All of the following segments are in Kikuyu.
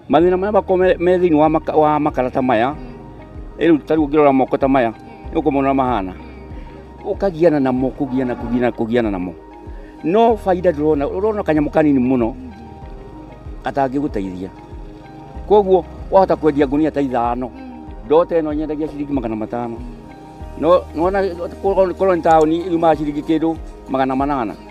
Mathĩna marĩa makoragwo me- me thĩinĩ wa maka- wa makara ta maya ĩ rĩu ta rĩu ũngĩrora moko ta maya nĩ ũkũmona ũrĩa mahana ũkagiana namo kũgiana kũgiana kũgiana namo no baida ndũrona ũrona kanyamũ kanini mũno gatangĩgũteithia koguo wahota kwendia ngunia ta ithano ndota ĩno nyendagia ciringi magana matano no nona korwo nĩ taũni yumaga ciringi kĩndũ magana manana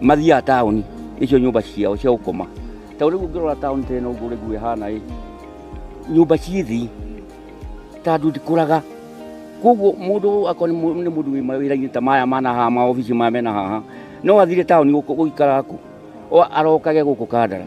mathiaga taũni icio nyũmba ciao cia gũkoma tondũ rĩu ũngĩrora taũni ta ĩno ũguo rĩguo ĩhana ĩ nyũmba ciĩ thĩ tandũ ndikũraga koguo mũndũ akorwo nĩ mũ- nĩ mũndũ wĩ mawĩra-inĩ ta maya mana haha maobici maya mena haha no athire taũni gũkũ- gũikara kũ O- arokage gũkũ kandara